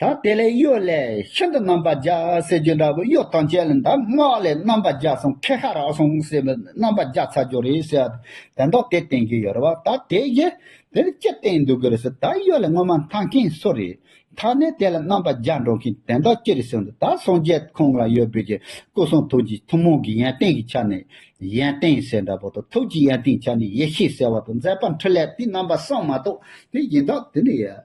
དང། དེ་ལས་གཡོ་ལས་ཤིན་ཏུ་རྣམ་པར་རྒྱལ་ཟེར་རྒྱུ་འདྲ་བོ་གཡོ་དང་བཅས་ལ་འདབ་སྔགས་ལས་རྣམ་པར་རྒྱལ་སོང་ཁེ་ཧ་རག་སོང་ཟེར་བའི་རྣམ་པར་རྒྱལ་ཚར་རྒྱུ་རེད་ཟེར་བ་དང་དེ་མདོག་དེ་བསྟན་གྱི་ཡོད་རེད་བ་ད་དེ་གཞི་དེ་ལ་ཅི་བསྟན་འདུག་གི་རེད་ཟེར་ད་གཡོ་ལས་སྔོན་མ་མཐའ་མཁན་སུ་རེད་ད་ནས་དེ་ལ་རྣམ་པར་རྒྱལ་འགྲོ་མཁན་དེ་མདོག་ཅི་རེད་ཟེར་ན་ད་སངས་རྒྱས་ཁོང་ལ་ཡོད་བོད་ཀྱི་སྐུ་གསུང་ཐུགས་ཀྱི་ཐུན་མོང་གི་ཡན་ཏན་གྱི་ཆ་ནས་ཡན་ཏན་ཟེར་འདྲ་བོ་དང་ཐུགས་ཀྱི་ཡན་ཏན་ཆ་ནས་ཡེ་ཤེས་ཟེར་བ་དང་མཛད་པ་འཕྲིན་ལས་དེ་རྣམ་པ་གསང་མ་གཏོགས་དེ་གཞི་མདོག་དེ་འདྲ་ཡོད།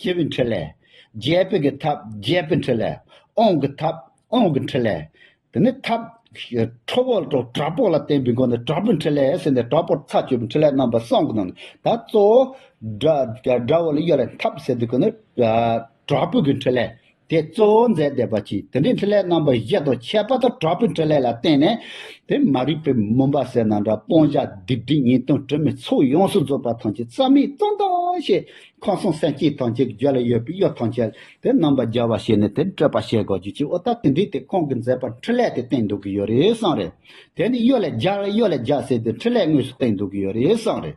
ཞི་བའི་འཕྲིན་ལས། རྒྱས་པའི་གི་ཐབས་རྒྱས་པའི་འཕྲིན་ལས། དབང་གི་ཐབས་དབང་གི་འཕྲིན་ལས། དེ་ནས་ཐབས། ཁྲོ་བོ་དྲག་པོ་ལ་བརྟེན་པའི་སྒོ་ནས་དྲག་པོའི་འཕྲིན་ལས་ཟེར་ནས་དྲག་པོར་ཚར་གཅོད་པའི་འཕྲིན་ལས་རྣམ་པ་གསུམ་གྱི་ནང་ནས་ད་གཙོ་བོ། དགྲ་བོ་ལ་གཡོལ་བའི་ཐབས་ཟེར་དུས་ཀྱི་ནི། དྲག་པོའི་གི་འཕྲིན་ལས། དེ་གཙོ་བོ་མཛད་བདེ་བ་ཆེའི་དེ་འདྲའི་འཕྲིན་ལས་རྣམ་པ་བཞི་དང་ཁྱད་པར་དུ་གྲགས་པའི་འཕྲིན་ལས་ལ་བརྟེན་ནས་དེ་མ་རིག་པའི་མུན་པ་སེལ་ན་འདྲ་སྤོང་བྱ་སྡིག་སྒྲིབ་ཉེས་ལྟུང་དྲི་མའི་ཚོགས་ཡོངས་སུ་རྫོགས་པ་ཐམས་ཅད་རྩ་མེད་སྟོང་དང་ཞེས་ཁམས་གསུམ་སེམས་ཅན་ཐམས་ཅད་ཀྱི་རྒྱུད་ལ་ཡོད་པའི་གཡོ་ཐམས་ཅད་དེ་རྣམ་པར་སྦྱར་བར་བྱས་ནས་དེ་སྤྲོས་པར་བྱེད་དགོས་རྒྱུ་ཅི་འོ་ད་དེ་འདྲའི་དེ་གང་གིས་མཛད་པར་འཕྲིན་ལས་དེ་བསྟན་འདུག་གི་ཡོད་རེད་བསམ་རེད་དེ་ནི་གཡོ་ལས་སྦྱར་གཡོ་ལས་སྦྱར་ཟེར་དེ་འཕྲིན་ལས་དངོས་སུ་བསྟན་འདུག་གི་ཡོད་རེད་བསམ་རེད།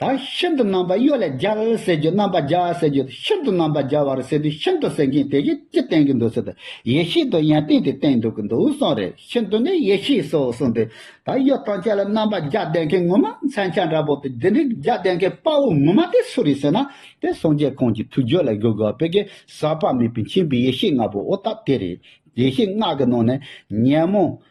དང། ཤིན་ཏུ་རྣམ་པ་གཡོ་ལས་སྦྱར་ཟེར་རྒྱུ་རྣམ་པ་སྦྱར་བ་ཟེར་རྒྱུ་ཤིན་ཏུ་རྣམ་པ་སྦྱར་བར་ཟེར་དུས་ཤིན་ཏུ་ཟེར་མཁན་དེ་གཞི་ཅི་བསྟན་གྱི་འདུག་ཟེར་དུས་ཡེ་ཤེས་དུ་ཡང་བསྟན་དེ་བསྟན་འདུག་གི་འདུག་གསུངས་རེད་ཤིན་ཏུ་ནི་ཡེ་ཤེས་སོ་གསུངས་དུས་ད་གཡོ་དང་བཅས་ལ་རྣམ་པ་སྦྱར་བསྡད་མཁན་ངོ་མ་མཚན་བྱང་འདྲ་པོ་དེ་འདི་འདྲའི་སྦྱར་བསྡད་མཁན་དཔའ་བོ་ངོ་མ་དེ་སུ་རེད་ཟེར་ན་དེ་སངས་རྒྱས་ཁོང་གི་ཐུགས་རྒྱུད་ལ་གུ་གུ་བོད་ཀྱི་ཟག་པ་མེད་པའི་མཁྱེན་པའི་ཡེ་ཤེས་ལྔ་པོ་ཨོ་ད་དེ་རེད་ཡེ་ཤེས་ལྔ་གི་ནང་ནས་ཉོན་མོངས་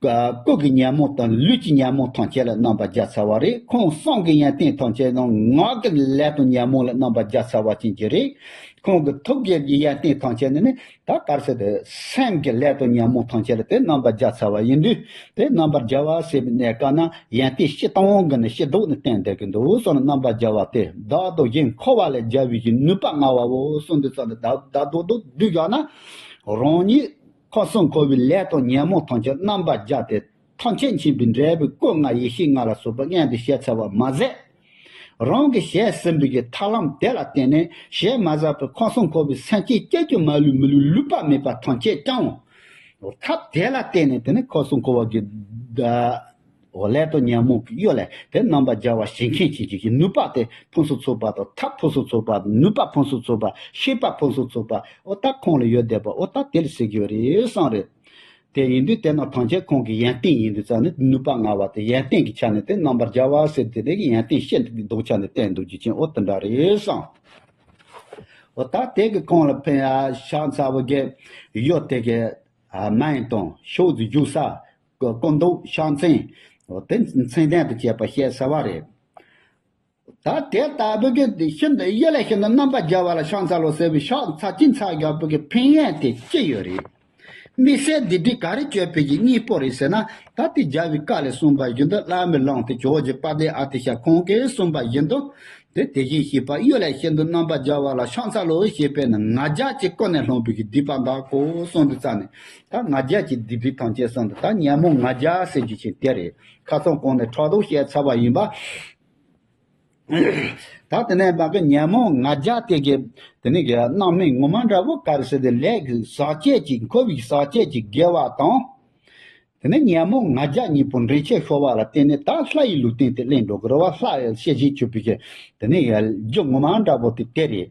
སྐུ་གི་ཉམས་མོ་དང་ལུས་ཀྱི་ཉམས་མོ་ཐམས་ཅད་ལ་རྣམ་པར་སྦྱར་ཚར་བ་རེད་ཁོང་གསང་གི་ཡན་ཏན་ཐམས་ཅད་དང་ངག་གི་ལས་དང་ཉམས་མོ་ལ་རྣམ་པར་སྦྱར་ཚར་བ་ཅན་གྱི་རེད། ཁོང་གི་ཐུགས་དགྱེས་ཀྱི་ཡན་ཏན་ཐམས་ཅད་ནི་ནི་ད་གར་སོ་དེ་སེམས་ཀྱི་ལས་དང་ཉམས་མོ་ཐམས་ཅད་ལ་དེ་རྣམ་པར་སྦྱར་ཚར་བ་ཡིན་དུས་དེ་རྣམ་པར་སྦྱར་བ་ཟེར་བའི་གནས་སྐབས་ན་ཡན་ཏན་བཤད་སྟངས་གི་ནི་ཤེས་ལྡོག་ནི་གཏན་བདེ་གི་འདུག་གསུངས་ལ་རྣམ་པར་སྦྱར་བ་དེ་བདག་དང་གཞན་འཁོར་བ་ལ་སྦྱར་བའི་གཞི་ནུས་པ་མངའ་བའོ་གསུངས་དུས་ཙམ་ལ་བདག་བདག་བདོག་བདོག་བསྡུས་བཞག་ན་རང་ཉིད་ཁོ་སྲུང་འཁོར་བའི་ལས་དང་ཉོན་མོངས་ཐམས་ཅད་རྣམ་པར་སྦྱར་ཏེ། ཐམས་ཅད་མཁྱེན་པའི་འབྲས་བུའི་སྐུ་ལྔ་ཡེ་ཤེས་ལྔ་ལ་སོགས་པའི་མངལ་དུ་ཞལ་འཚལ་བར་མ་ཟད། རང་གི་ཞལ་སྲིན་བུ་ཡི་ཐར་ལམ་དེ་ལ་བརྟེན་ནས་ཞལ་མ་བཞག་པའི་ཁོ་སྲུང་འཁོར་བའི་སེམས་ཅན་ཀྱེ་ཀྱེ་མ་ལུས་མི་ལུས་ལུས་པ་མེད་པ་ཐམས་ཅད་བསྐྱང། ཐབས་དེ་ལ་བརྟེན་ནས་དེ་ནས་ཁོ་སྲུང་འཁོར་བ་གྱི། འོ་ལེ་ཏོ་ཉོན་མོངས་ཀྱི་གཡོ་ལས་དེ་རྣམ་པར་སྦྱར་བ་ཞིག་མཁན་ཆེན་གྱིས་ཀྱི་ནུས་པ་སྟེ་ཕུན་སུམ་ཚོགས་པ་དང་ཐབས་ཕུན་སུམ་ཚོགས་པ་ནུས་པ་ཕུན་སུམ་ཚོགས་པ་ཤེས་པ་ཕུན་སུམ་ཚོགས་པ་འོ་ད་ཁོང་ལ་ཡོད་བསྡད་པ་འོ་ད་དེ་ལ་ཟེར་གྱི་ཡོད་རེད་བསམ་རེད། དེ་ཡིན་དུས་དེ་ནང་ཐང་ཆེན་ཁོང་གི་ཡན་ཏན་ཡིན་དུས་ཙང་ནི་ནུས་པ་མངའ་བ་དེ་ཡན་ཏན་གྱི་ཆ་ནས་དེ་རྣམ་པར་སྦྱར་བ་ཟེར་དེ་དེ་གི་ཡན་ཏན་ཤེས་འདུག་གི་འདུག་ཆ་ནས་བསྟན་འདུག་རྒྱུ་ཆེན་འོ་དེ་འདྲ་རེད་བསམ། འོ་ད་དེ་གི་ཁོང་ལ་ཕན་ཡ་ཤག་མཚར་བོ་གི་གཡོ་དེ་གི། མ་ཡིན་དང་ཕྱོགས་རྫུས་རྒྱུག་ས་གི་སྐུ་མདོག་ཕྱག་མཚན། དེ་མཚན་ལྡན་དུ་བྱས་པ་བཤད་གསལ་བ་རེད། ད་དེ་ལྟ་བུ་གི་ཤིན་ཏུ་གཡས་ལས་ཤིན་ཏུ་རྣམ་པར་རྒྱལ་བ་ལ་ཕྱག་མཚལ་ལོ་ཟེར་བའི་ཕྱག་མཚལ་སྤྱི་མཚལ་རྒྱལ་པོ་གི་ཕན་ཡོན་དེ་ཅི་ཡོད་རེད། དམིགས་བསལ་འདི་འདྲའི་ག་རེ་སྤྱོད་ཕོད་ཀྱི་གཉིས་པོ་རེད་ཟེར་ན་ད་ལྟའི་རྒྱལ་བའི་བཀའ་ལས་གསུངས་པ་བཞིན་དུ་བླ་མའི་ལུང་དེ་ཇོ་བོ་རྗེ་དཔལ་ལྡན་ཨ་ཏི་ཤ་ཁོང་གིས་གསུངས་པ་བཞིན་དུ་དེ་དེ་བཞིན་ཤེས་པ་གཡོས་ལས་ཤིན་ཏུ་རྣམ་པར་རྒྱལ་བ་ལ་ཕྱག་མཚལ་ལོ་ཞེས་པས་ནི་ང་རྒྱལ་གྱི་སྐུ་ནས་ལྷུང་བོད་ཀྱི་སྡིག་པ་འདག་གོ་གསུངས་འདི་རྩ་ནས་ད་ང་རྒྱལ་གྱི་སྡིག་སྒྲིབ་ཐམས་ཅད་གསང་དུ་ད་ཉན་མོ་ང་རྒྱལ་ཟེར་རྒྱུ་ཆེ་དེ་རེད་ཁ་ཚོན་བསྐོང་ནས་ཕྲག་དོག་བཤད་ཚར་བ་ཡིན་པ། ད་དེ་ནས་བདག་གི་ཉན་མོ་ང་རྒྱལ་དེ་གའི་དེ་ནས་གའི་སྣང་མེད་ངོ་མ་འདྲ་བོ་ག་རེ་ཟེར་དེ་ལས་ཀྱི་ཟག་བཅས་ཀྱི་འཁོར་བའི་ཟག་བཅས་ཀྱི་དགེ་བ་དང། དེ་ནས་ཉན་མོ་ང་རྒྱལ་གཉིས་པོ་འདྲེན་བྱེད་ཤོར་བ་ལ་བརྟེན་ནས་ད་ལྷ་ཡི་ལུས་རྟེན་དེ་གླིང་འགྲོ་དགོས་རོ་བ་ལྷ་ཡི་ཤེས་བྱའི་ཆོས་པའི་ཆོས་དེ་ནས་གའི་རྒྱུ་ངོ་མ་འདྲ་བོ་དེ་དེ་རེད་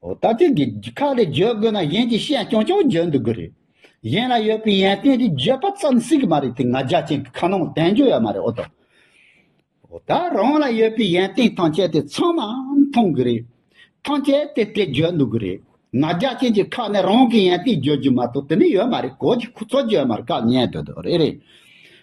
ད་ཐེངས་ཀྱི་ཁག་ལས་བརྗོད་དགོས་ན་གཞན་གྱི་བཤད་རྐྱང་རྐྱང་བརྗོད་འདུག་གི་རེད། གཞན་ལ་ཡོད་པའི་ཡན་ཏན་དེ་བརྗོད་པ་ཙམ་སྲིད་ཀྱི་མ་རེད་དེ་ང་རྒྱ་ཅན་གྱི་ཁ་ནང་བསྟན་བརྗོད་ཡ་མ་རེད་ཨོ་ད། ད་རང་ལ་ཡོད་པའི་ཡན་ཏན་ཐམས་ཅད་དེ་ཚང་མ་མཐོང་གི་རེད། ཐམས་ཅད་དེ་དེ་བརྗོད་འདུག་གི་རེད། ང་རྒྱ་ཅན་གྱི་ཁག་ནས་རང་གི་ཡན་ཏན་བརྗོད་རྒྱུ་མ་གཏོགས་དེ་ནས་ཡོད་མ་རེད་གོ་གི་ཁོ་ཚོ་བརྗོད་མར་བཀག་ཉན་འདོད་འདོད་རེད།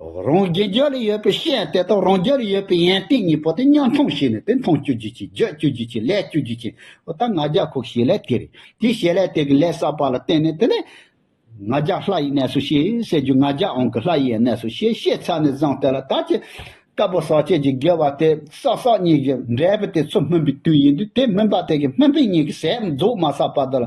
རང་རྒྱལ་རྒྱ་ལ་ཡོད་པའི་ཤེས་ཡོན་དེ་དག་རང་རྒྱལ་ལ་ཡོད་པའི་ཡན་ཏན་གཉིས་པོ་དེ་མཉམ་འཐུང་བྱས་ནས་དེ་མཐོང་སྤྱོད་རྒྱུ་བྱེད་རྒྱག་སྤྱོད་རྒྱུ་བྱེད་ལས་སྤྱོད་རྒྱུ་བྱེད་པོ་ད་ང་རྒྱལ་ཁོག་ཤེས་ལས་དེ་རེད་དེ་ཤེས་ལས་དེ་གི་ལས་བསགས་པ་ལ་བརྟེན་ནས་དེ་ལས། ང་རྒྱལ་ལྷ་ཡི་གནས་སུ་ཤེས་ཟེར་རྒྱུ་ང་རྒྱལ་ཨང་གི་ལྷ་ཡིའི་གནས་སུ་ཤེས་ཤེས་ཚར་ནས་བཟང་དེ་ལ་ད་ཅི། དཀར་པོ་ཟག་བཅས་ཀྱི་དགེ་བ་དེ་བསགས་བསགས་གཉིས་ཀྱི་འབྲས་བུ་དེ་ཚོ་སྨིན་པའི་དུས་ཡིན་དུས་དེ་སྨིན་པ་དེ་གི་སྨིན་པའི་གཉིས་ཀྱི་ཟས་རྫོགས་མ་བསགས་པ་དེ་ལ་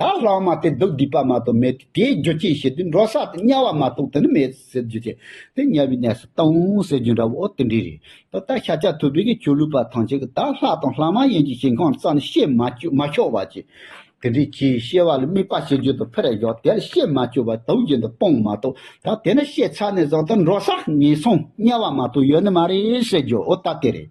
དག་ལྷག་མ་སྟེ་འདུག་སྡིག་པ་མ་གཏོགས་མེད་དེ་དེའི་རྒྱུ་ཅི་ཞེ་དུས་འགྲོ་ས་དང་དམྱལ་བ་མ་གཏོགས་དེ་ནི་མེད་ཟེར་རྒྱུ་དེ་དེ་དམྱལ་བའི་གནས་སུ་ལྟའོ་ཟེར་རྒྱུ་འདྲ་བོ་དེ་འདྲའི་རེད་ད་ལྟ་ཤ་ཆ་ཐུབ་པའི་གི་ཆོས་ལུགས་པ་ཐམས་ཅད་ཀྱི་དག་ལྷག་དང་ལྷག་མ་ཡན་གྱི་ཞིང་ཁམས་རྩ་ནས་བཤད་མ་བཅོས་མ་ཆོག་བ་ཅི། དེ་འདྲའི་ཆེས་གཤེ་བ་ལ་དམིགས་པ་བྱེད་རྒྱུ་དང་ཕེར་གཞོག་དེ་ལ་བཤད་མ་བཅོས་པ་དག་རྒྱུན་དུ་སྤོང་མ་གཏོགས་དག་དེ་ནི་བཤད་ཚར་ནས་བཟང་དུ་འགྲོ་ས་ངན་སོང་དམྱལ་བ་མ་གཏོགས་ཡོད་ནི་མ་རེད་ཟེར་རྒྱུ་འོ་ད་དེ་རེད།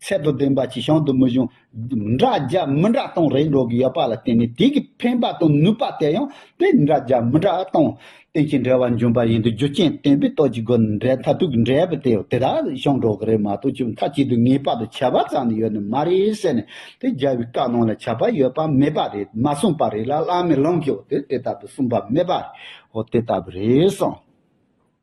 ཚད་དང་ལྡན་པ་གྱི་གཤམ་དུ་མི་གཞུང་འདྲ་རྒྱབ་མི་འདྲ་སྟོང་རེ་འགྲོ་གི་ཡོད་པ་ལ་བརྟེན་ནས་དེ་གའི་ཕན་པ་དང་ནུས་པ་དེ་ཡང་དེ་འདྲ་རྒྱབ་མི་འདྲ་སྟོང་རྟེན་གྱི་འབྲེལ་བ་འབྱུང་པ་ཡིན་དུས་རྒྱུ་རྐྱེན་བརྟེན་པའི་རྟོགས་ཀྱི་སྒོ་ནས་འབྲེལ་མཐའ་དྲུག་གི་འབྲེལ་བ་དེ་དེ་དག་བྱུང་འགྲོ་གི་རེད་མ་གཏོགས་ཆུ་མཐའ་གཅིག་ཏུ་ངེས་པར་དུ་ཁྱད་པར་ཙམ་ནི་ཡོད་ནི་མ་རེད་ཟེར་ནས་དེ་རྒྱལ་བའི་བཀའ་ནང་ལ་ཁྱད་པར་ཡོད་པ་མེད་པ་རེད་མ་གསུངས་པ་རེད་ལ་བླ་མའི་ལུང་གིའོ་དེ་དེ་ལྟ་བུ་གསུངས་པ་མེད་པ་རེད་འོ་དེ་ལྟ་བུ་རེད་གསུངས།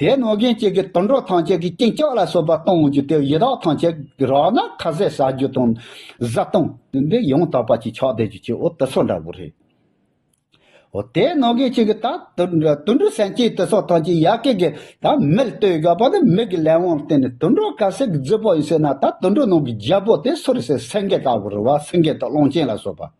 དེས་ན་གཞན་གཅེས་ཀྱི་དུད་འགྲོ་ཐམས་ཅད་ཀྱི་སྐྱིན་ལྕག་ལ་སོགས་པ་གཏོང་རྒྱུ་དེ་ཡི་དྭགས་ཐམས་ཅད་ཀྱི་རག་ན་ཁ་ཟས་ཟ་རྒྱུ་དང། བཟའ་བཏུང། འདི་ཡང་དག་པ་ཅིག་ཆགས་བསྡད་རྒྱུ་ཅིག་འོ་དུད་ཚོགས་འདྲ་བོ་རེད། ཨོ་དེས་ན་གཞན་གཅེས་ཀྱི་ད་དུད་འགྲོའི་སེམས་ཅན་དུད་ཚོགས་ཐམས་ཅད་ཡ་ཀེ་ཀེ་ད་མིར་ལྟོས་དགོས་པ་ནི་མིག་གི་ལས་དབང་བརྟེན་ནས་དུད་འགྲོ་ག་ཟེ་གི་རྫི་བོ་ཡིན་ཟེར་ན་ད་དུད་འགྲོའི་ནང་གི་རྒྱལ་པོ་དེ་སུ་རེད་ཟེར་སེང་གེ་ལྟ་བུ་རེད་བ་སེང་གེ་དང་གླང་ཆེན་ལ་སོགས་པ།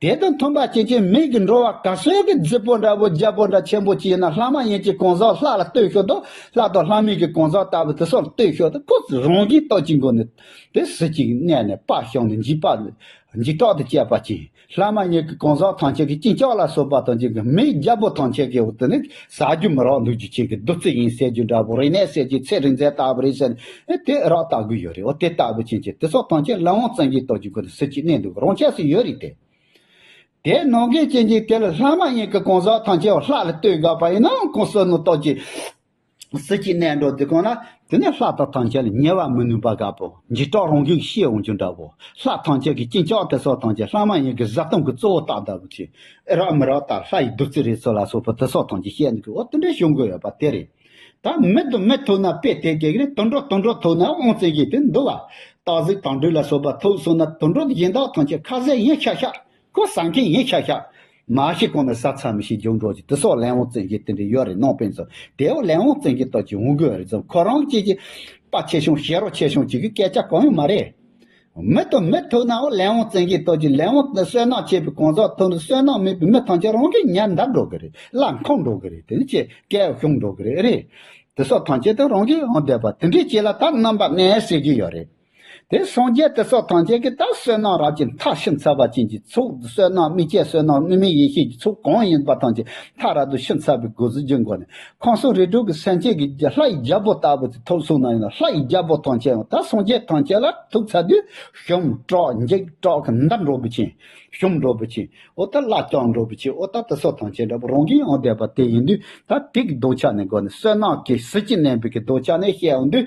དེ་དང་མཐུན་པར་སྐྱེས་ཆེན་མིག་གིས་འགྲོ་བ་ག་སོས་ཀྱི་རྫི་བོ་འདྲ་བོ་རྒྱལ་པོ་འདྲ་ཆེན་པོ་ཅིག་ཡིན་ན་ལྷ་མ་ཡིན་གྱི་གང་ཟག་ལྷ་ལ་ལྟོས་ཤོག་དང་ལྷ་དང་ལྷ་མིན་གྱི་གང་ཟག་ལྟ་བུ་དེ་སོགས་ལ་ལྟོས་ཤོག་དང་ཁོ་ཚོས་རང་བཞིན་རྟག་ཅིང་མགོ་ནི་དེ་གཟི་ཅིང་གནས་ནི་དཔག་ཞག་ནི་འཇིག་པ་ནི་འཇིག་སྐྲག་ཏུ་སྐྱེས་པ་ཅིང་ལྷ་མ་ཡིན་གྱི་གང་ཟག་ཐམས་ཅད་ཀྱི་གཅིན་ལྕགས་ལ་སོགས་པ་དང་ཅིང་མིའི་རྒྱལ་པོ་ཐམས་ཅད་ཀྱི་འོག་ཏུ་ནི་ཟ་རྒྱུ་མི་རག་འདུག་རྒྱུ་ཁྱེད་ཀྱི་བདུད་རྩི་ཡིན་ཟེར་རྒྱུ་འདྲ་བོ་རེད་ནས་ཟེར་རྒྱུ་ཚེ་རིང་མཛད་ལྟ་བུ་རེད་ཟེར་ནས་དེ་རག་ལྟ་དགོས་ཡོད་རེད་འོ་དེ་ལྟ་བུ་ཅན་གྱི་དེ་ཚོ་ཐང་ཆེན་བླ་འོང་བཙན་གྱིས་གཏོར་རྒྱུ་དགོས་ན་སྲིད་ཀྱིས་གནས་འདུག་རང་ཆས་སུ་ཡོད་རེད་དེ། དེ་ནང་གི་གཅེན་གཅུང་དེ་ལ་ལྷ་མ་ཡིན་གྱི་གང་ཟག་ཐང་ཆེན་བ་ལྷ་ལ་ལྟོས་དགའ་བ་ཡིན་ནའང་གང་བསོད་ནམས་རྟོགས་ཀྱིས་སྲིད་ཀྱིས་གནས་འགྲོ་འདི་གང་ན་དེ་ནས་ལྷ་དང་ཐམས་ཅད་ལ་ཉེ་བར་མི་ནུས་པ་དགའ་བོ་འཇིགས་སྐྲག་རང་གིས་ཤེས་འོང་རྒྱུ་འདྲ་བོ། ལྷ་ཐམས་ཅད་ཀྱིས་སྐྱིན་ཅོག་དེ་སོགས་ཐམས་ཅད་ལྷ་མ་ཡིན་གྱི་བཟའ་བཏུང་གི་གཙོ་བོ་རྟགས་འདྲ་བོ་ཆེ། ཨེ་རག་མི་རག་ལྟར་ལྷ་ཡི་བདུད་རྩི་རེད་ཚོད་ལ་སོགས་པ་དེ་སོགས་ཐམས་ཅད་བཤད་འདུག་གི་འོ་དེ་འདྲའི་ཞོ་འགོས་ཡོད་པ་དེ་རེད། ད་མི་དང་མི་ཐུག་ན་དཔེ་དེ་གས་རེད་དུད་འགྲོ་དུད་འགྲོ་ཐུག་ན་ཨོང་བཙན་ཤེས་ཏེ་འདུག་བ། སྟག་གཟིག་དང་སྦྲུལ་ལ་སོགས་པ་ཐུག་སོང་ན་དུད་འགྲོ་གཞན་དག་ཐམས་ཅད་ཁ་ཟས་ཡིན་ཤག་ཤག་ཁོ་ཟ་མཁན་ཡིན་ཤག་ཤག། མ་ཤི་གོང་ནས་ས་ཚ་མི་ཤི་རྒྱུགས་འགྲོ་ཅིག་དེ་སོགས་ལན་འོང་བཙན་གྱིས་དེ་འདྲའི་ཡོད་རེད་ནོངས་དཔེ་མཛོད་དེའོ་ལན་འོང་བཙན་གྱིས་ལྟོས་ཀྱིས་འོང་གི་རེད་ཙང་ཁོ་རང་སྐྱེས་ཀྱི། དཔའ་ཆེ་ཤོང་ཞེ་རོ་ཆེ་ཤོང་ཅིག་གི་སྐད་ཆ་གང་ཡང་མ་རེད། མི་དང་མི་ཐུག་ནའོ་ལན་འོང་བཙན་གྱིས་ལྟོས་ཀྱིས་ལན་འོང་ནི་སོལ་ནག་ཆེ་བའི་གང་ཟག་ཐུག་ནས་སོལ་ནག་མེད་པའི་མི་ཐམས་ཅད་རང་གིས་ཉར་འདར་འགྲོ་གི་རེད་ལ་འཁང་འགྲོ་གི་རེད་དེ་ནི་ཆེས་སྐལ་བ་ཤོང་འགྲོ་གི་རེད། དེ་སོགས་ཐམས་ཅད་དུ་རང་གིས་འོང་བསྡད་པ་དེ་འདྲའི་སྐྱེས་ལ་ད་རྣམ་པ་གནས་སྲིད་ཀྱི་ཡོད་རེད། དེ་སངས་རྒྱས་དེ་སོགས་ཐམས་ཅད་ཀྱི་རྟགས་བསོད་ནམས་རབ་ཀྱི་མཐའ་ཤིན་ཚ་བ་ཅན་གྱི་ཚོགས་བསོད་ནམས་དམིགས་བཅས་བསོད་ནམས་དངོས་མིན་ཡེ་ཤེས་ཀྱི་ཚོགས་གང་ཡིན་པ་ཐམས་ཅད་མཐའ་ར་དུ་ཤིན་ཚ་བའི་སྒོ་ཟུར་བརྒྱུད་འགོ་ནས་ཁང་སོགས་རི་དྲུག་གི་སེམས་ཅན་གྱི་ལྷ་ཡི་རྒྱལ་པོ་ལྟ་བུ་དེ་ཐོབ་གསུངས་ན་ཡིན་ལ་ལྷ་ཡི་རྒྱལ་པོ་ཐམས་ཅད་ཡང་དག་སངས་རྒྱས་ཐམས་ཅད་ལ་ཐུག་ཚ་དུས་ཞུམ་དྲག་འཇིགས་དྲག་གི་མདའ་འགྲོ་བུ་ཆེན། ཞུམ་འགྲོ་བུ་ཆེན། ཨོ་ད་ལ་སྐྱག་འགྲོ་བུ་ཆེན་ཨོ་ད་དེ་སོགས་ཐམས་ཅད་འདྲ་པོ་རང་གི་ཡང་དད་པ་དེ་ཡིན་དུས་ད་དེ་གི་ལྡོག་ཆ་ནས་འགོ་ནས་བསོད་ནམས་ཀྱི་གཟི་བརྗིད་གནས་འབུལ་གྱི་ལྡོག་ཆ་ནས་བཤད་འོང་དུས།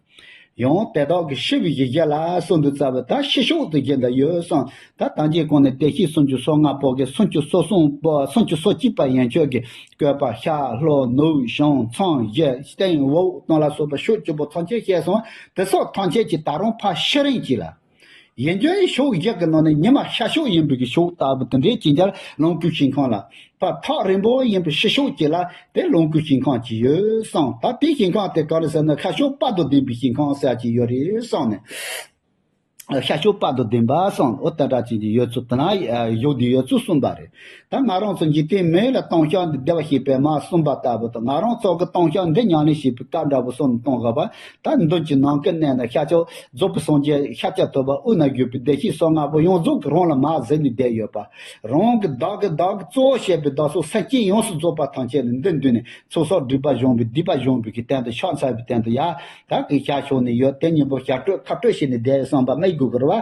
ཡང་དེ་དག་གི་ཤི་བའི་ཡི་གེ་ལ་སོགས་འདི་རྩ་བའི་ད་ཤི་ཤོག་ཏུ་བཞེད་འདི་ཡོད་གསུང། ད་དང་གྱི་གོང་ནས་བདེ་གཤེགས་སུམ་ཅུ་སོ་ལྔ་པོ་གི་སུམ་ཅུ་སོ་གསུམ་པོ་སུམ་ཅུ་སོ་གཅིག་པ་ཡན་ཆོད་ཀྱི་བཀོད་པ་ཤར་ལྷོ་ནུབ་བྱང་ཚང་བཞི་སྟེང་འོག་སྟོང་ལ་སོགས་པ་ཤོག་བཅུ་པོ་ཐམས་ཅད་བཤད་གསུང་དེ་སོགས་ཐམས་ཅད་ཀྱི་ད་རུང་ཕ་ཤི་རིང་གཅིག་ལ། གཞན་རྒྱུ་ནི་ཕྱོགས་བཞི་གི་ནང་ནས་ཉི་མ་ཤར་ཕྱོགས་ཡིན་པའི་ཕྱོགས་ལྟ་བུ་དེ་འདྲའི་སྤྱི་འཆར་ལོངས་སྐུའི་ཞིང་ཁམས་ལ། བར་ཐག་རིང་པོ་ཡིན་པའི་ཕྱི་ཕྱོགས་ཀྱི་ལ་དེ་ལོངས་སྐུའི་ཞིང་ཁམས་ཀྱི་ཡོད་བསམས་ད་དེའི་ཞིང་ཁམས་དེ་ག་རེ་ཟེར་ན་ཤར་ཕྱོགས་དཔག་ཏུ་ལྡན་པའི་ཞིང་ཁམས་ཟེར་གྱི་ཡོད་རེད་བསམས་ནས། ཤར་ཕྱོགས་དཔག་ཏུ་ལྡན་པ་བསམས་འོ་ད་དྲག་ཅན་གྱི་ཡོད་ཚུལ་དེ་ན་གཞོགས་འདི་ཡོད་ཚུལ་གསུངས་པ་རེད། ད་ང་རང་ཚོ་འཇིག་རྟེན་མི་ཡུལ་ལ་སྟོང་ཤག་འདི་བདེ་བ་ཞེས་པའི་མ་གསུངས་པ་ལྟ་བུ་དང་ང་རང་ཚོགས་ཀྱི་སྟོང་ཤག་འདི་མྱང་ནས་ཞེས་པའི་བཀའ་འདྲ་བོ་སོགས་ནི་གཏོང་དགོས་པ་དག་མདུན་གྱི་ནང་གི་གནས་ན་ཤར་ཕྱོགས་རྫོགས་པའི་སངས་རྒྱས་ཤཱཀྱ་ཐུབ་པ་དབུས་ན་བཞུགས་པའི་བདེ་གཤེགས་སོགས་ལྔ་པོ་ཡོངས་རྫོགས་ཀྱི་རང་ལ་མ་གཟིགས་ནས་བསྡད་ཡོད་པ། རང་གི་བདག་གི་བདག་གི་གཙོ་བོ་བྱས་པའི་བདག་སོགས་སེམས་ཅན་ཡོངས་སུ་རྫོགས་པ་ཐམས་ཅད་ནི་འདི་མདུན་ནས་ཚོགས་བསགས་སྒྲིབ་པ་གཞོམ་པའི་སྡིག་པ་གཞོམ་པའི་གི་སྟན་དུ་ཕྱག་འཚལ་བའི་སྟན་དུ་ཡལ་ག་གི་ཤར་ཕྱོགས་ནས་ཡོད་དེ་གཉེན་པོ་ཞལ་སྤྲོད་ཁ་སྤྲོད་བྱས་ནས་བསྡད་ཡོད་བསམ་པ་སྨྲས་དགོས་ཀྱི་རེད་བ།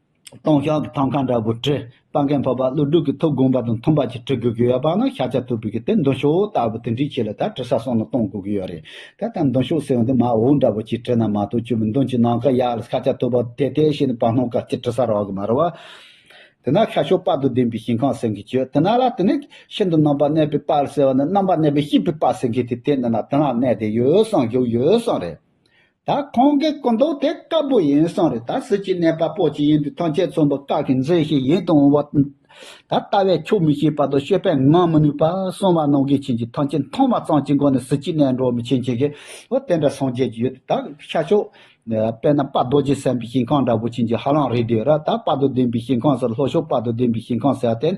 སྟོང་ཤོག་གི་ཐང་ཁང་འདྲ་བོ་བྲིས་པ་མཁན་ཕོར་པ་ཀླུ་སྒྲུབ་ཀྱི་ཐུགས་དགོངས་པ་དང་མཐུན་པ་ཅིག་བྲི་དགོས་ཀྱི་ཡོད་པ་ནི་ཤ་ཆ་ཐུབ་པའི་གི་དེ་མདུན་ཤོག་ལྟ་བུ་དེ་འདྲའི་ཆེད་ལ་ད་བྲི་ས་སོང་ན་གཏོང་དགོས་ཀྱི་ཡོད་རེད་ད་ལྟ་མདུན་ཤོག་ཟེར་བ་འདི་མ་འོངས་འདྲ་བོ་ཅིག་བྲིས་ན་མ་གཏོགས་བཅུ་པའི་མདུན་གྱི་ནང་ཁ་ཡག་ལ་ཤ་ཆ་ཐུབ་པ་དེ་དེ་བཞིན་བར་སྣང་ག་ཅིག་བྲི་ས་རག་གི་མ་རེད་བ། དེ་ན་ཤ་ཤོག་དཔའ་དང་ལྡན་པའི་ཞིང་ཁང་ཟེར་མཁན་བྱོས་དེ་ན་ལ་དེ་ནས་ཤིན་ཏུ་རྣམ་པར་གནས་པའི་དཔའ་ཟེར་བ་ནི་རྣམ་པར་གནས་པའི་སྐྱིད་པའི་དཔའ་ཟེར་མཁན་དེ་དེ་ནི་ན་དེ་ན་གནས་དེ་ཡོད་བསམ་བཞུགས་ཡོད་བསམ་རེད། ད་ཁོང་གི་སྐུ་མདོག་དེ་དཀར་པོ་ཡིན་སོང་རེད་ད་སྲིད་ཀྱི་གནས་པ་པོ་ཅིག་ཡིན་དུས་ཐོན་སྐྱེད་ཚོང་པ་ཀག་གི་མཛེས་ཤིག་ཡིན་དུ་འོང་བ་དང། ད་ལྟ་བས་ཁྱོ་མི་ཤེས་པ་དང་ཤེས་པས་ངང་མི་ནུས་པ་སོང་བ་ནང་གི་ཁྱིམ་གྱི་ཐོན་སྐྱེད་མཐོང་བ་ཙམ་གྱི་སྒོ་ནས་སྲིད་ཀྱི་གནས་འགྲོ་མི་ཆེན་གྱི་ཨོ་དེ་འདྲ་སངས་རྒྱས་ཀྱི་ཡུལ་དུ་ད་ཤར་ཤོག། དཔེར་ན་དཔའ་རྡོ་རྗེ་སེམས་པའི་ཞིང་ཁང་འདྲ་བོ་ཁྱིམ་གྱི་ཧ་ལམ་རེད་དུས་ར་ད་དཔའ་རྡོ་ལྡན་པའི་ཞིང་ཁང་ཟེར་ལྷོ་ཕྱོགས་དཔའ་རྡོ་ལྡན་པའི་ཞིང་ཁང་ཟེར་ཏེ།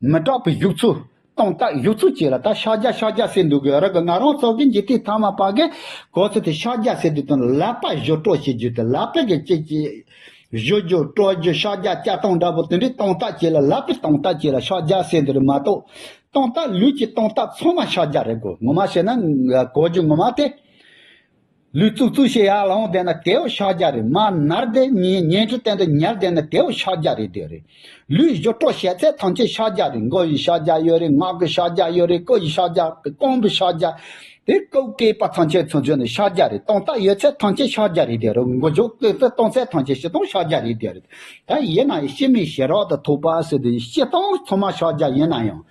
མི་སྐྲག་པའི་བཞུགས་ཚུལ། སྟོང་རྟགས་བཞུགས་ཚུལ་བཅས་ལ་ད་ཤཱཀྱ་ཤཱཀྱ་ཟེར་འདུག་གི་རག་གི་ང་རང་སོག་ཀན་གྱི་དེ་ཐ་མ་པ་གི་གོ་ཚེ་དེ་ཤཱཀྱ་ཟེར་དུས་དོན་ལག་པ་བཞོ་སྤྲོ་བྱེད་རྒྱུ་དེ་ལག་པས་གི་ཅི་བྱེད། བཞོ་རྒྱུ་སྤྲོ་རྒྱུ་ཤཱཀྱ་སྐྱ་སྟོང་འདྲ་པོ་དེ་འདྲའི་སྟོང་རྟགས་བཅས་ལ་ལག་པའི་སྟོང་རྟགས་བཅས་ལ་ཤཱཀྱ་ཟེར་འདི་རུ་མ་གཏོགས། སྟོང་རྟགས་ལུས་ཀྱི་སྟོང་རྟགས་ཚང་མ་ཤཱཀྱ་རེད་གོ་ངོ་མ་བཤད་ན་གོ་རྒྱུ་ངོ་མ་སྟེ། ལུས་བཙུགས་བཙུགས་ཞེས་ཡར་ལངས་བསྡད་ན་དེའོ་ཕྱག་རྒྱ་རེད་མར་ནར་བསྡད་ཉལ་ཉལ་ཁྲི་སྟན་དུ་ཉལ་བསྡད་ན་དེའོ་ཕྱག་རྒྱ་རེད་དེ་རེད། ལུས་བཞོ་སྤྲོ་ཞལ་ཚད་ཐམས་ཅད་ཕྱག་རྒྱ་རེད་མགོ་ཡི་ཕྱག་རྒྱ་ཡོད་རེད་ངག་གི་ཕྱག་རྒྱ་ཡོད་རེད་སྐུ་ཡི་ཕྱག་རྒྱ་ཀོང་བུའི་ཕྱག་རྒྱ་དེ་ཀོ་བཀའི་པ་ཐམས་ཅད་ཚུར་འཇོག་ནས་ཕྱག་རྒྱ་རེད་སྟོང་རྟགས་ཡོད་ཚད་ཐམས་ཅད་ཕྱག་རྒྱ་རེད་དེ་རེད་མགོ་བཞོ་སྐེ་ཚེ་སྟོང་ཚད་ཐམས་ཅད་བཤེ་སྟོང་ཕྱག་རྒྱ་རེད་དེ་རེད་ད་ཡིན་ན་ཡང་ཤི་མིའི་ཞལ་རོགས་དང་ཐུག་པ་ཟེར་དུས་བཤེ་སྟོང་ཚང་མ་ཕྱག་རྒྱ་ཡིན་ན་ཡང་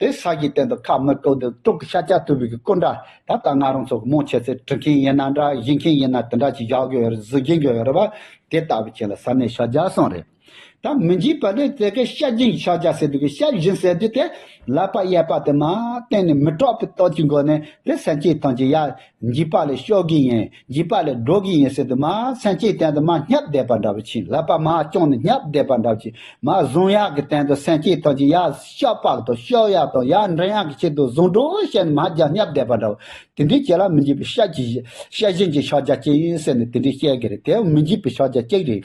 དེ་ས་གཞིའི་སྟེང་དུ་ཁ་མི་བཀོད་དུ་སྤྲུག་གི་ཤ་ཆ་དུ་བུ་གི་སྐུ་འདྲ་ད་ལྟ་ང་རང་ཚོ་གི་མོ་ཁྱེད་ཚོས་བྲི་མཁན་ཡིན་ན་འདྲ་གཞི་མཁན་ཡིན་ན་དེ་འདྲ་ཅིག་བཞག་གི་ཡོད་རེད་བཟོ་གྱིན་ཡོད་རེད་བ་དེ་ལྟ་བུ་ཁྱེད་ལ་ཟ་མའི་ཤ་རྒྱག་སོང་རེད་ད་མི་འཇིགས་པ་དེ་ཚེ་གའི་ཤ་སྦྱིན་གྱི་ཤ་རྒྱག་ཟེར་དུས་ཀྱི་ཤ་སྦྱིན་ཟེར་དུས་དེ་ལག་པ་གཡས་པ་དེ་མ་བསྟན་ནས་མི་སྐྲག་པའི་སྟོབས་ཀྱིས་འགོ་ནས་དེ་སེམས་ཅན་ཐམས་ཅད་ཡ་འཇིགས་པ་ལས་ཤོར་གི་ཡིན་འཇིགས་པ་ལས་འགྲོ་གི་ཡིན་ཟེར་དུ་མ་མཚན་གཅིག་བསྟན་དུ་མ་སྙབས་བསྡད་པ་འདྲ་བོ་ཕྱིན་ལབ་པ་མ་བསྐྱོང་ནས་སྙབས་བསྡད་པ་འདྲ་བོ་ཕྱིན་མ་བཟུང་གཡག་གི་སྟེང་དུ་སེང་གཅིག་དང་གཅིག་གཡག་ཤ་པགས་དང་ཤོག་གཡག་དང་གཡག་མགྲིན་གཡག་གི་ཕྱི་དུ་བཟུང་འགྲོ་བཤད་ནས་མ་རྒྱག་སྙབས་བསྡད་པ་འདྲ་བོ། དེ་འདྲའི་ཁྱེད་ལ་མི་འཇིགས་པའི་ཤ་གཅིག་ཤ་གཞན་གྱི་ཤ་རྒྱག་གཅིག་ཡིན་ཟེར་ནས་དེ་འདྲའི་བཤད་གི་རེད་དེ་མི་འཇིགས་པའི་ཤ་རྒྱག་གཅིག་རེད།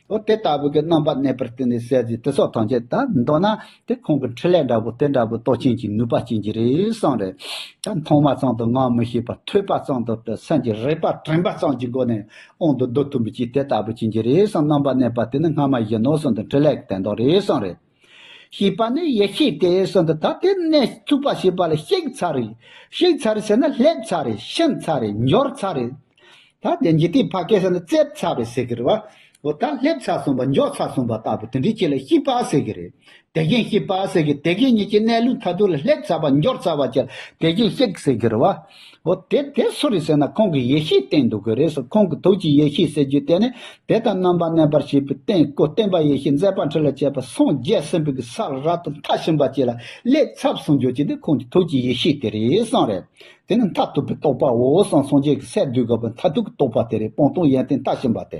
འོ་དེ་ལྟ་བུ་གི་རྣམ་པ་གནས་པར་བརྟེན་ནས་གསལ་བྱེད་དེ་སོགས་ཐམས་ཅད་དང་འདོད་ན་དེ་ཁོང་གི་འཕྲིན་ལས་འདྲ་བོ་དེ་འདྲ་བོའི་རྟོགས་ཆེན་གྱི་ནུས་པ་ཅན་གྱི་རེ་ཟུང་རེ་ད་མཐོང་བ་ཙམ་དུ་སྔ་མི་ཤེས་པར་ཐོས་པ་ཙམ་དུ་དེ་སེམས་ཀྱི་རེག་པ་དྲན་པ་ཙམ་གྱི་སྒོ་ནས་དབང་དུ་བསྡུ་ཐུབ་མི་བྱེད་དེ་ལྟ་བུ་ཅན་གྱི་རེ་ཟུང་རྣམ་པ་གནས་པ་དེ་ནི་སྔ་མ་བཞིན་ནོ་གསུངས་དོན་འཕྲིན་ལས་ཀྱི་དན་ཐོག་རེ་ཟུང་རེ། ཞེས་པ་ནི་ཡེ་ཤེས་དེ་གསུམ་དུ་ད་ལྟའི་གནས་བཅུ་པ་ཞེས་པ་ལ་གཤེགས་ཚར་རེ་གཤེགས་ཚར་རེ་ཟེར་ན་སླེབས་ཚར་རེ་ཕྱིན་ཚར་རེ་འབྱོར་ཚར་རེ། ད་ལྟའི་འཇིག་རྟེན་ཕ་སྐད་ཟེར་ན་བཙལ་ཚར་རེ་ཟེར་གི་རེད་བ། འོ་ད་སླེབས་ཚར་གསུངས་པ་འབྱོར་ཚར་གསུངས་པ་ལྟ་བུ་དེ་འདྲའི་ཆེད་ལ་ཤེས་པ་ཟེར་གི་རེད། དེ་བཞིན་ཤེས་པ་ཟེར་གི་དེ་བཞིན་ཉིད་ཀྱི་གནས་ལུགས་མཐའ་དག་ལ་སླེབས་ཚར་བ་འབྱོར་ཚར་བ་ཆེད་ལ་དེ་བཞིན་གཤེགས་ཟེར་གི་རེད་བ། འོ་དེ་དེ་སུ་རེད་ཟེར་ན་ཁོང་གི་ཡེ་ཤེས་བསྟན་འདུག་གི་རེད་ཟེར་ཁོང་གི་ཐུགས་ཀྱི་ཡེ་ཤེས་ཟེར་རྒྱུ་དེ་ནི་དེ་དང་རྣམ་པར་གནས་པར་བྱེད་པའི་རྟེན་སྐུ་བསྟན་པ་ཡེ་ཤེས་མཛད་པ་ཁྲི་ལ་བྱས་པ་སངས་རྒྱས་སེམས་དཔའི་གི་ས་ར་ཏི་མཐའ་ཕྱིན་པ་བཅས་ལ་སླེབས་ཚབས་སུ་འགྱུར་གྱི་འདི་ཁོང་གི་ཐུགས་ཀྱི་ཡེ་ཤེས་དེ་རེད་གསང་རེད་དེ་ནི་མཐར་ཐུག་པའི་རྟོགས་པའོ་གསང་སངས་རྒྱས་ཀྱི་སས་བསྡུས་དགག་པའི་མཐར་ཐུག་གི་རྟོགས་པ་དེ་རེད་སྤང་ལྟུང་ཡན་ཏན་མཐའ་ཕྱིན་པ་དེ།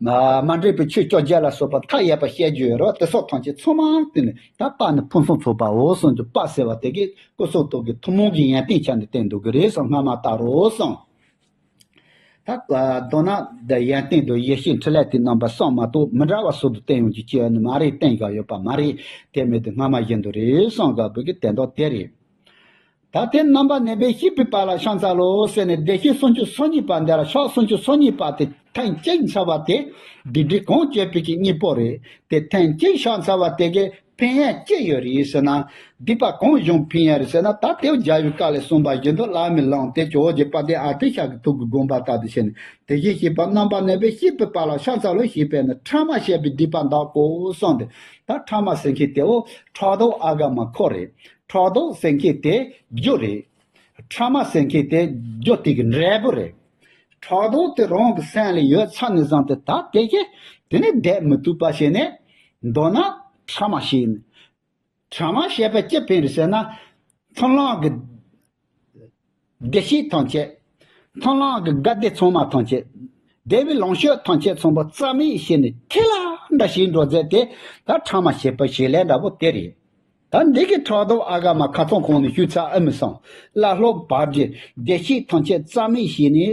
མ་འདྲེས་པའི་ཆོས་བཅོ་བརྒྱད་ལ་སོགས་པ་མཐའ་ཡས་པ་བཤད་རྒྱུ་ཡོད་རོ་དེ་སོགས་ཐམས་ཅད་ཚོགས་མང་བསྟན་ནས་ད་དཔག་ནས་ཕུན་སུམ་ཚོགས་པའོ་གསུངས་ཀྱི་དཔག་ཟེར་བ་དེ་གའི་སྐུ་གསུང་ཐུགས་ཀྱི་ཐུན་མོང་གི་ཡན་ཏན་ཆ་ནས་བསྟན་འདུག་གི་རེད་སོགས་སྔ་མ་ལྟར་རོ་གསུངས། མདོར་ན། ཡན་ཏན་དུ་ཡེ་ཤེས་འཕྲིན་ལས་དེ་རྣམ་པ་གསང་མ་གཏོགས་མི་འདྲ་བ་ཟུར་དུ་བསྟན་ཡོང་རྒྱུ་ཅི་ཡང་ནི་མ་རེད་བསྟན་ཀྱང་ཡོད་པ་མ་རེད་དེ་མེད་དུ་སྔ་མ་བཞིན་དུ་རེད་གསུངས་དགག་དགོས་ཀྱི་དེ་མདོ་དེ་རེད། ད་ལྟའི་རྣམ་པ་ནན་པོས་བཤིག་པའི་བར་ལ་ཤངས་ཚ་ལོ་ཟེར་ནས་བདེ་གཤེགས་སུམ་ཅུ་སོ་གཉིས་པ་འདི་ལ་ཤོག་སུམ་ཅུ་སོ་གཉིས་པ་དེ་ཐེངས་གཅིག་འཚལ་བ་དེ་སྡིག་སྒྲིབ་གང་སྐྱེས་ཕུད་ཀྱི་གཉིས་པོ་རེད་དེ་ཐེངས་གཅིག་ཤོག་འཚལ་བ་དེ་གས་ཕན་ཡར་སྐྱེས་ཡོད་རེད་ཟེར་ན་སྡིག་པ་གང་བཞུགས་ཕན་ཡར་ཟེར་ན་ད་ལྟའི་རྒྱལ་བའི་བཀའ་ལས་གསུངས་པ་བཞིན་དུ་བླ་མས་ལངས་ཏེ་ཇོ་བོ་རྗེ་དཔལ་ལྡན་ཨ་ཏི་ཤ་གི་ཐུགས་ཀྱི་དགོངས་པ་ལྟར་དུ་བྱས་ནས་དེ་བཞིན་གཤེགས་པ་རྣམ་པ་ནན་པོས་བཤིག་པའི་བར་ལ་ཤངས་ཚ་ལོ་ཞེས་པས་ན་ཕྲ་མ་བཤད་པའི་སྡིག་པ་འདག་གོ་གསུངས་ཏེ་ད་ཕྲ་མ་ཟེར་མཁན་དེའོ་ཕྲག་དོག་ཨ་དགའ་མ་ཁོ་རེད་ཁྲག་དོག་སེང་གེ་དེ་རྒྱུ་རེད། ཁྲག་མ་སེང་གེ་དེ་རྒྱུ་ཏིག་འབྲས་བུ་རེད། ཁྲག་དོག་དེ་རང་གི་སེམས་ལ་ཡོད་ཚ་ནས་བཟང་སྟེ་ད་བལྟས་ཀྱི་དེ་ནི་བསྡད་མི་ཐུབ་པ་བྱས་ནས་འདོད་ན་ཁྲག་མ་ཞིག་ཡིན། ཁྲག་མ་ཞེས་པ་ཅི་ཕན་རེད་ཟེར་ན་ཚོན་ལང་གི། བདེ་གཤེགས་ཐམས་ཅད་ཐང་ལང་གི་དགའ་བདེ་ཚང་མ་ཐམས་ཅད་བདེ་བའི་ལོངས་སྤྱོད་ཐམས་ཅད་ཚོམ་བུ་རྩ་མེད་བྱས་ནས་ཐིག་ལེ་འདྲ་ཞིག་འགྲོ་མཛད་དེ་ད་ཕྲ་མ་བྱེད་པའི་བྱེད་ལས་འདྲ་བོ་དེ་རེད། ད་འདི་གི་ཕྲག་དོག་ཨ་ག་མ་ཁ་ཚང་ཁོང་ནས་ཞུས་ཚར་ཨེ་མི་སང། བླ་སློབ་བར་གྱི་བདེ་གཤེགས་ཐམས་ཅད་རྩ་མེད་བྱས་ནས་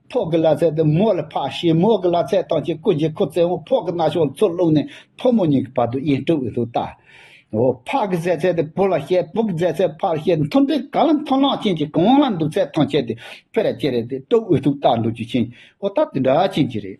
ཕོག་གི་ལ་ཚད་དུ་མོ་ལ་ཕ་ཞེས་མོ་གི་ལ་ཚད་དང་གཅིག་ཀུན་གྱི་ཁུ་རྩེ་མོ་ཕོག་གི་ན་ཕྱོགས་མཚོ་རླུང་ནས་ཕོ་མོ་གཉིས་ཀྱི་བར་དུ་དབྱེ་འཁྲུལ་བའི་ཚུལ་ལྟར། ཕ་གི་རྫས་ཚད་དེ་བུ་ལ་བཤད་བུ་གི་རྫས་ཚད་ཕ་ལ་བཤད་མཐུན་པའི་གང་ལ་མཐུན་ལག་ཅན་གྱི་གང་ལ་འདུག་ཚད་ཐང་ཆད་དེ་ཕེ་ར་ཅེ་རེ་དེ་དཀྲོལ་བའི་ཚུལ་ལྟར་འདུག་རྒྱུ་ཆེན་པོ་ལྟར་དེ་འདྲ་ཅན་གྱི་རེད།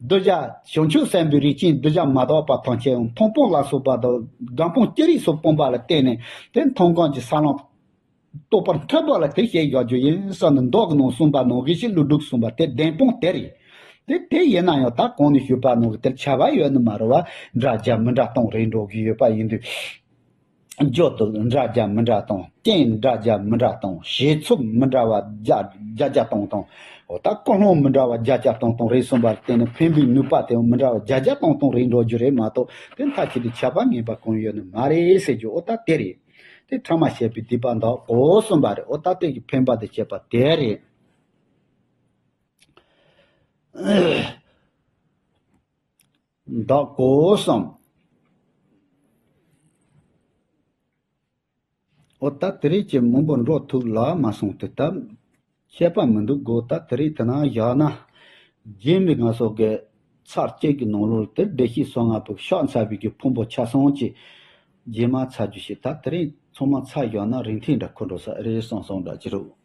གདུལ་བྱ་བྱང་ཆུབ་སེམས་དཔའི་རིགས་ཅན་གདུལ་བྱ་མ་དག་པ་ཐམས་ཅད་མཐོང་སྤོང་ལ་སོགས་པ་དང་སྒྲ་སྤོང་སྐྱེ་རིས་སུ་སྤོང་པ་ལ་བརྟེན་ནས་དེ་མཐོང་གང་ཅི་ས་བླངས། རྟོགས་པར་འཐད་པ་ལ་དེ་ཞེས་བཞག་རྒྱུ་ཡིན་ས་ནི་མདོ་ནང་གསུངས་པ་ནང་གི་ཤི་ལུ་དྲུག་གསུངས་པ་དེ་བདེན་དཔང་དེ་རེད། དེ་དེ་ཡིན་ན་ཡང་ད་གོང་ནས་ཞུས་པ་ནང་གི་དེར་བྱ་བ་ཡོད་ནི་མ་རུང་བ་འདྲ་རྒྱ་མི་འདྲ་སྟོང་རེད་འགྲོ་གི་ཡོད་པ་ཡིན་དུས། རྒྱུ་དུག་འདྲ་རྒྱ་མི་འདྲ་དང་རྐྱེན་འདྲ་རྒྱ་མི་འདྲ་དང་བྱེད་ཚུལ་མི་འདྲ་བ་བརྒྱ་བརྒྱ་སྟོང་སྟོང། འོ་ད་ཀུན་སློང་མི་འདྲ་བ་བརྒྱ་བརྒྱ་སྟོང་སྟོང་རེད་གསུངས་པར་བརྟེན་ནས་ཕན་པའི་ནུས་པ་དེའང་མི་འདྲ་བ་བརྒྱ་བརྒྱ་སྟོང་སྟོང་རེད་འགྲོ་རྒྱུ་རེད་མ་གཏོགས་དེ་མཐའ་ཁྱེད་ཀྱི་ཁྱབ་པ་ངེས་པ་གང་ཡོད་ནི་མ་རེད་ཟེར་རྒྱུ་འོ་ད་དེ་རེད། དེ་ཕྲ་མ་བཤད་པའི་སྡིག་པ་འདག་གོ་གསུངས་པ་རེད་འོ་ད་དེ་ཀྱི་ཕན་པ་དེ་བྱས་པ་དེ་རེད། བདག་གོ་བསམ། ཨོ་ད་དེ་རིགས་ཀྱི་མང་པོ་འགྲོ་ཐུབ་ལ་མ་སོང་དུས་སྟབས། ཤེས་པ་མི་འདུག་གོ་ད་དེ་རིགས་དེ་ན་བཞག་ན། རྗེ་མི་དགའ་སོགས་ཀྱི་ཚར་བཅད་ཀྱི་ནང་ལོར་དེར་བདེ་གཤེགས་སོ་ལྔ་པོས་ཕྱག་འཚལ་བས་ཀྱི་ཕུང་པོ་ཆ་སངས་ཀྱི་རྗེས་མ་ཚར་རྒྱུ་ཞིག་ད་དེ་རིགས་ཚང་མ་ཚར་བཞག་ན་རིན་ཐིག་འདྲ་ཁོ་འགྲོ་ས་ཨེ་རེད་སོང་སོང་འདྲ་གྱི་རོགས།